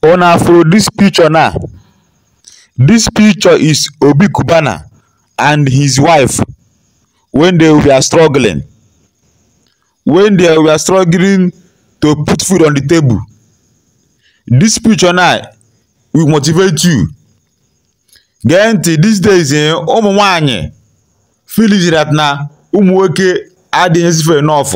Una afro this picture now? This picture is Obi Cubana and his wife when they were struggling. When they were struggling to put food on the table. This picture now will motivate you. Gee ntị these days eh, ụmụ nwanyị feeling that na ụmụ nwoke adịghị ezife enough.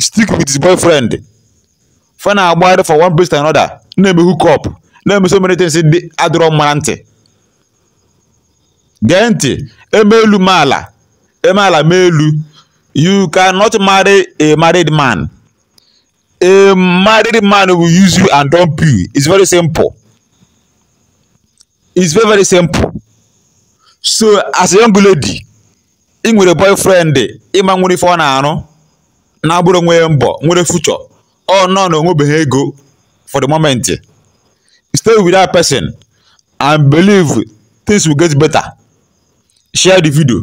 stick with his boyfriend fa na-agbagharị for one place to another na-eme hook up na-eme so many things ndị adịrọ mma na ntị gee ntị e mee elu mee ala e mee ala mee elu you cannot marry a married man a married man will use you and dump you it's very simple it's very very simple so as a young lady i nwere boyfriend ị ma nwere ife ọ na-arụ na-abụrụ nwere mbọ nwere future ọ nọ na o nwebeghị ego for the moment stay with that person and believe things will get better share the video